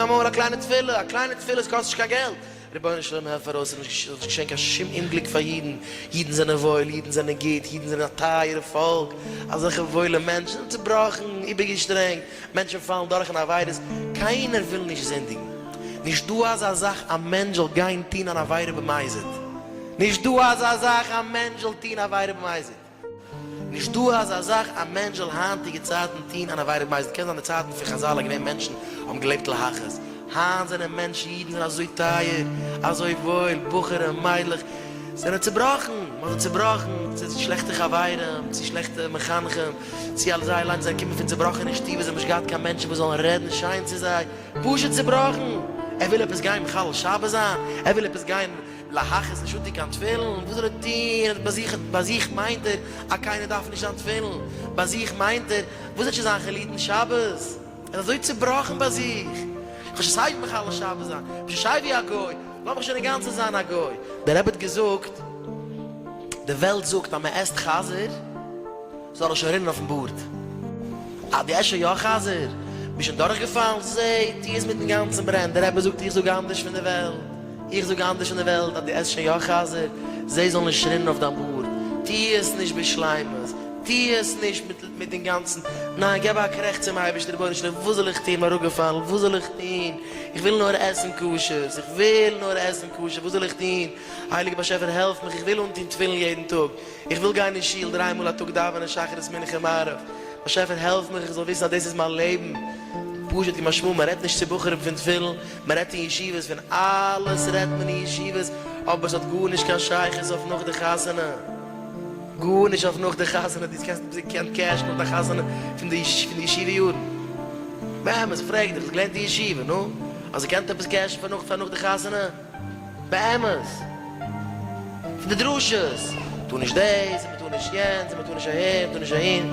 אמאל א קליינע תפילה, א קליינע תפילה, עס קאסט נישט קיין געלט, רבונו של עולם העלף פאר אויס, איך זאל נישט געשען קיין שום אומגליק פאר אידן, אידן זענען וואויל, אידן זענען גוט, אידן זענען א טייערע פאלק, אזעלכע וואוילע מענטשן, זענען צובראכן, איבערגעשטרענגט, מענטשן פאלן דורך אין עבירות, קיינער וויל נישט זינדיגן, נישט דא אזא זאך א מענטש זאל גיין טון אן עבירה במזיד, נישט דא אזא זאך א מענטש זאל טון עבירה במזיד. נישט דא אזא זאך א מענטש זאל היינטיגע צייטן טוהן אן עבירה במזיד, קען זיין די צייטן פון חזל איז געווען מענטשן האבן געלעבט להכעיס, היינט זענען מענטשן אידן זענען אזוי טייער אזוי וואויל, בחורים מיידלעך זענען צובראכן, מ'האט זיי צובראכן צו שלעכטע חברים, צו שלעכטע מחנכים, צו אלס זיי אליינס זיי קומען פון צובראכענע שטוב און זיי האבן נישט געהאט קיין מענטשן וואס זאלן רעדן שיין צו זיי, פשוט צובראכן, ער וויל עפעס גיין מחלל שבת זיין? ער וויל עפעס גיין. להכ איז נישט אנטוהן קיין תפילין, און וואס זאל ער טוהן? ביי זיך ביי זיך מיינט ער אז קיינער דארף נישט זיין תפילין, ביי זיך מיינט ער, וואס וועט שוין זיין חילוטין שבת? ער איז אזוי צובראכן ביי זיך, איך האב שוין סייווי מחלל שבת זיין, איך בין שוין סייווי א גוי, לאז מיך שוין אינגאנצן זיין א גוי. דער רבי האט געזאגט, די וועלט זאגט אז מען עסט חזיר, זאל ער שוין רינען אויפן בארד. אה די עשה יא חזיר, ביסט שוין דורך געפאלן, זע טו עס מיטן גאנצן ברען, דער רבי זאגט איך זאג אנדערש פון די וועלט, איך זאג אנדערש פון די וועלט אז די עסט שוין יא חזיר, זי זאל נישט רינען אויף דיין בארד, טו עס נישט בשלימות, טו עס נישט מיט מיט אינגאנצן, ניין געב א קרעכץ צום אייבערשטער רבונו של עולם וואס זאל איך טון, אראפגעפאלן, וואס זאל איך טון, איך וויל נאר עסן כשר, איך וויל נאר עסן כשר, וואס זאל איך טון, הייליגער באשעפער העלף מיך, איך וויל אנטון תפילין יעדן טאג. איך וויל גיין אין שול דריי מאל א טאג דאווענען שחרית מנחה מעריב, באשעפער העלף מיך איך זאל וויסן אז דאס איז מיין לעבן, פשוט כמשמעו מען רעדט נישט צו בחורים פון תפילין, מען רעדט אין ישיבות פון אלעס רעדט מען אין ישיבות, אבער עס האט גארנישט קיין שייכות אויף נאך די חתונה, גארנישט אויף נאך די חתונה, דו קענסט נישט באקומען קעש נאך די חתונה פון די ישיבה יארן, באמת פרעג דיך, האסט געלערנט אין ישיבה, נו, האסט געקענט עפעס קעשן פאר נאך די חתונה? באמת! פון די דרשות! טו נישט דאס און מ'טאר נישט יענץ און מ'טאר נישט אהער און מ'טאר נישט אהין.